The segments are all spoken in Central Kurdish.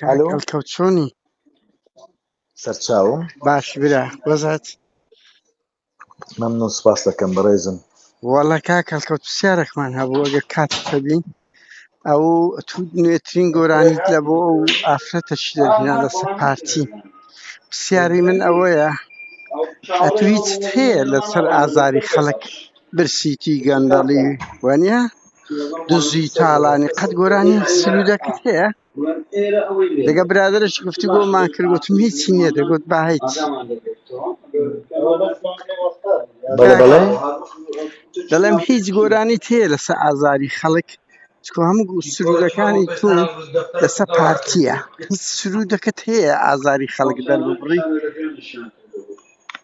ئەلۆ کاکەڵکەوت چۆنی سەرچاوم باشی برا بەزات مەمنون سپاست دەکەم بەڕێزم. وەڵا کاک هەڵکەوت پرسیارێکمان هەبوو ئەگەر کاتت هەبی ئەو تو نوێترین گۆرانیت لە بۆ ئەو ئافرەتە چی دەرهێنا لەسە پارتی پرسیاری من ئەوەیە ئەتو هیچت هەیە لەسەر ئازاری خەڵک برسیتی گەندەڵی وەنیە دزی تاڵانی قەت گۆرانی سلوودەکت هەیە دەگە برادرش گفتی گۆ مان کرد گوتم هیچی نییە دەگوت با هیچ دەڵێم هیچ گۆرانی تێ لەسە ئازاری خەڵک چکۆ هەموو سرودەکانی تو لەسە پارتیە هیچ سرودەکەت هەیە ئازاری خەڵک دەربڕی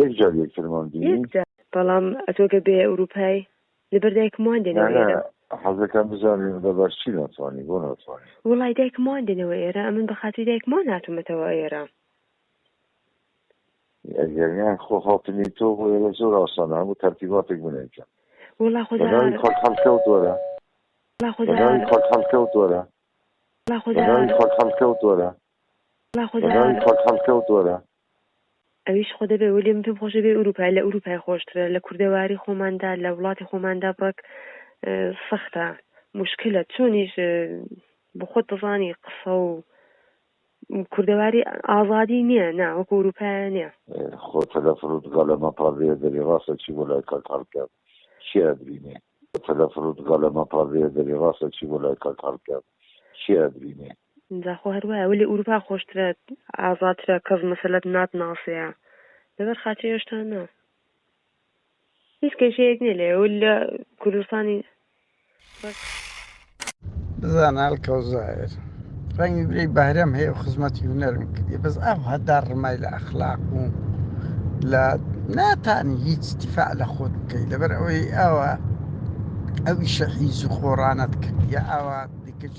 یەک جار یەکترمان بینی. بەڵام ئەتۆ گەر بێ ئەوروپای لەبەر دایکم وان دێنەوە ئێرە. نانا حەزەکەم بزانم لەبەر چی ناتوانی بۆ ناتوانی. وەڵای دایکم وان دێنەوە ئێرە ئەمن بە خاتری دایکم وان هاتومەتەوە ئێرە. ئەگەر نا خۆ هاتنی تۆ بۆ ئێرە زۆر ئاسانە هەموو تەرتیباتێک من ئەیکەم. وەڵا خۆ دا. بەناوی خاک هەڵکەوت وەرە. وەڵا خۆ دا. بەناوی خاک هەڵکەوت وەرە. وەڵا خۆ دا. بەناوی خاک هەڵکەوت وەرە. وەڵا خۆ دا. بەناوی خاک هەڵکەوت وەرە. ئەویش خۆ دەبێ وەلی من پێم خۆشە بێ ئوروپای لە ئوروپای خۆشترە لە کوردەواری خۆماندا لە وڵاتی خۆماندا بڕک سەختە مشکلە چۆنیش بخۆت دەزانی قسە و کوردەواری ئازادی نییە نا وەکو ئوروپای نییە خۆ تەلەفرت گەلەمە پاێ دەری ڕاستە چی بۆ لای کاک هەڵکات چی ئەبرینێ تەلەفرت گەلەمە پاێ دەری ڕاستە چی بۆ لای کاک هەڵکات چی ئەبرینێ جا خۆ هەر وایە وەلی ئوروپا خۆشترە ئازاترە کەس مەسەلەت نات ناسێە لەبەر خاچی ئێشتا نا هیچ کەشەیەک نیە لێ و لە کوردستانی بزانال کەوزایر ڕەنگی برەی بەهرەم هەیە و خزمەتی هونەرم کردی بەس ئەو هەدا ڕمای لە ئەخلاق و لە ناتانی هیچ تیفاع لە خۆت بکەیت لەبەر ئەوەی ئەوە ئەویشە حیز و خۆڕانەت کردیە ئاوا دیکەش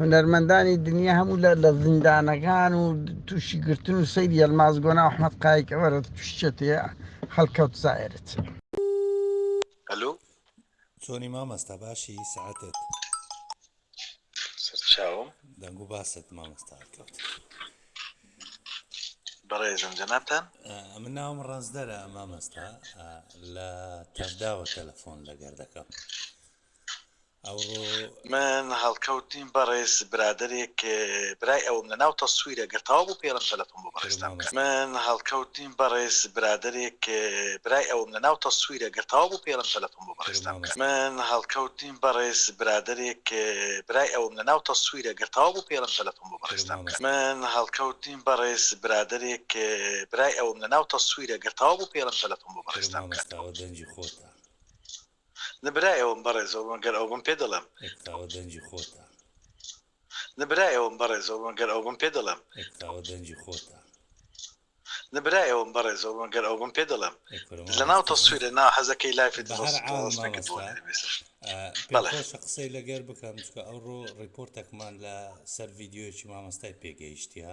هونەرمەندانی دنیا هەموو لە لە زیندانەکان و تووشی گرتن و سەیری ئەلماس گۆنا و ئەحمەد قایک ئەوەرە تووشیەتی خەڵکەوت زایرت ئەلو چۆنی مامەستا باشی سعاتت سەرچاوم دەنگ و باست مامەستا هەڵکەوت بەڕێزم جەنابتان من ناوم ڕەنجدەرە مامەستا لە تەڤداوە تەلەفۆن لەگەر دەکەم ئەوڕۆ. من هەڵکەوت نیم بەڕێز برادەرێک برای ئەوم لە ناو تەسویرە گەر تەواو بوو پێڵم تەلەفۆن بۆ بەڕێزتان بکەن. من هەڵکەوت نیم بەڕێز برادەرێک برای ئەوم لە ناو تەسویرە گەر تەواو بوو پێڵم تەلەفۆن بۆ بەڕێزتان بکەن. من هەڵکەوت نیم بەڕێز برادەرێک برای ئەوم لە ناو تەسویرە گەر تەواو بوو پێڵم تەلەفۆن بۆ بەڕێزتان بکەن. من هەڵکەوت نیم بەڕێز برادەرێک برای ئەوم لە ناو تەسویرە گەر تەواو بوو پێڵم تەلەفۆن بۆ بەڕێزتان بکەن. نە برای ئەوم بەڕێزەوە من گەر ئەوبم پێ دەڵێم. ئەکتاوە دەنگی خۆتە. نە برای ئەوم بەڕێزەوە من گەر ئەوبم پێ دەڵێم. ئەکتاوە دەنگی خۆتە. نە برای ئەوم بەڕێزەوە من گەر ئەوبم پێ دەڵێم. لەناو تەسویرە نا حەزەکەی لایفی دڵۆسم تەواو نەکردووە لە مێسج. بەڵێ. پێخۆشە قسەی لەگەر بکەم چونکە ئەوڕۆ ڕیپۆرتەکمان لە سەر ڤیدیۆیەکی مامۆستای پێگەیشتیە